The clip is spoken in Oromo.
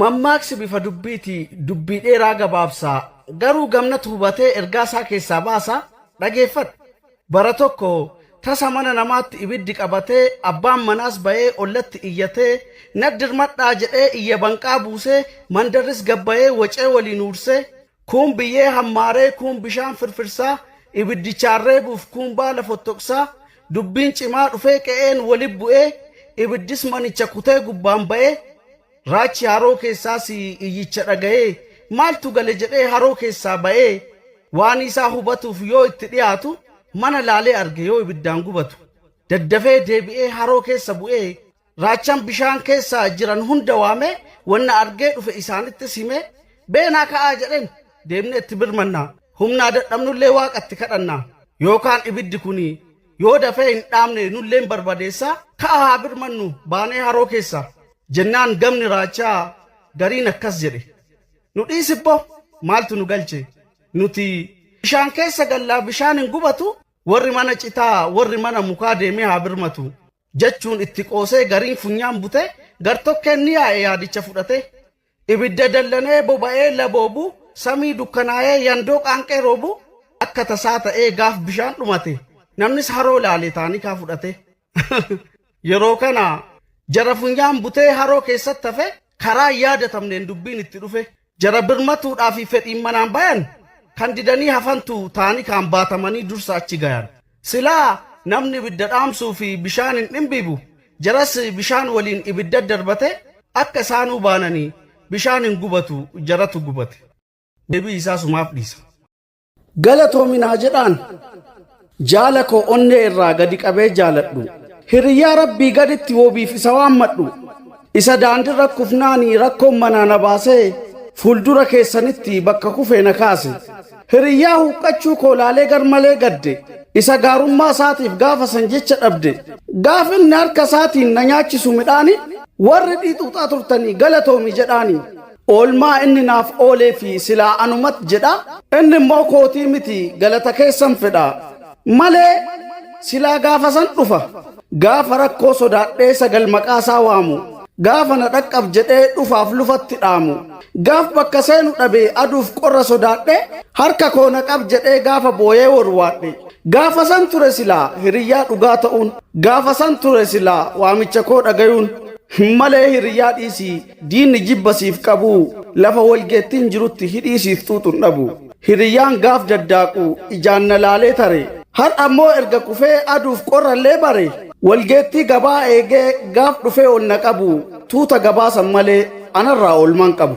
Mammaaksi bifa dubbiiti dubbii dheeraa gabaabsa. Garuu gamnatu hubatee ergaa isaa keessaa baasa. Dhageeffadhu. Bara tokko tasa mana namaatti ibiddi qabatee abbaan manaas ba'ee ollatti iyyatee nat dirmadhaa jedhee iyya banqaa buusee mandarris gad ba'ee wacee waliin huursee Kuun biyyee hammaaree, kuun bishaan firfirsaa, ibiddichaan reebuuf kuun baala fottoqsaa, dubbiin cimaa dhufee qe'een wali bu'ee, ibiddis manicha kutee gubbaan ba'ee, raachi haroo keessaas iyyicha dhaga'ee, maaltu gale jedhee haroo keessaa ba'ee, waanii isaa hubatuuf yoo itti dhiyaatu, mana laalee arge yoo ibiddaan gubatu, daddafee deebi'ee haroo keessa bu'ee, Raachaan bishaan keessa jiran hunda waamee wanna argee dhufe isaanittis himee beenaa ka'aa jedheen deemnee itti birmannaa humnaa dadhabnullee waaqa itti kadhannaa yookaan ibiddi kuni yoo dafee hin dhaamne nulleen barbadeessaa ka'aa haa birmannu baanee haroo keessa jennaan gamni raachaa gariin akkas jedhe nu dhiisibbo maaltu nu galche nuti bishaan keessa gallaa bishaan hin gubatu warri mana citaa warri mana mukaa deemee haa birmatu jechuun itti qoosee gariin funyaan butee gartokkeen ni yaa'e yaadicha fudhatee. Ibidda dallanee boba'ee laboobu samii dukkanaa'ee yandoo qaanqee roobu akka tasaa ta'ee gaaf bishaan dhumate namnis haroo laale taanikaa fudhatee. Yeroo kana jara funyaan butee haroo keessatti hafe karaa hin yaadatamneen dubbiin itti dhufee. Jara birmatuudhaafi fedhiin manaan bayan, kan didanii hafantu taanii kaan baatamanii dursa achi gayan. Silaa namni ibidda dhaamsuufi bishaan hin dhimbiibu, jaras bishaan waliin ibidda darbate akka isaanuu baananii bishaan hin gubatu jaratu gubate. Deebii isaa sumaaf dhiisa. Galatoomi naa jedhaan jaala koo onnee irraa gadi qabee jaaladhu. Hiriyyaa rabbii gaditti wobiif isa waammadhu. Isa daandirra kufnaani rakkoon manaa na baasee fuuldura keessanitti bakka kufee na kaase. Hiriyyaa huqqachuu koo laalee garmalee gadde. Isa gaarummaa isaatiif gaafa san jecha dhabde. Gaaf inni harka isaatiin na nyaachisu midhaani warri dhiixuuxaa turtanii galatoomi jedhaani. Oolmaa inni naaf ooleefi silaa anumat jedha. Inni immoo kootii miti galata keessan fedha. Malee silaa gaafasan dhufa. Gaafa rakkoo sodaadhee sagal maqaasaa waamu. Gaafa na dhaqqab jedhee dhufaaf lufatti dhaamu. Gaaf bakka seenu dhabe aduuf qorra sodaadhe harka koo na qab jedhee gaafa booyee worwaadhe. Gaafasan ture silaa hiriyyaa dhugaa ta'uun. Gaafasan ture silaa waamicha koo dhagayuun. Malee hiriyyaa dhiisii. Diinni jibba siif qabu. Lafa walgeettiin jirutti hidhii siif xuuxun dhabu. Hiriyyaan gaaf daddaaqu ijaan na laalee tare. Har'ammoo erga kufee aduuf qorrallee bare. Walgeettii gabaa eegee gaaf dhufee ol na qabu. Tuuta gabaasan malee anarraa oolmaan qabu.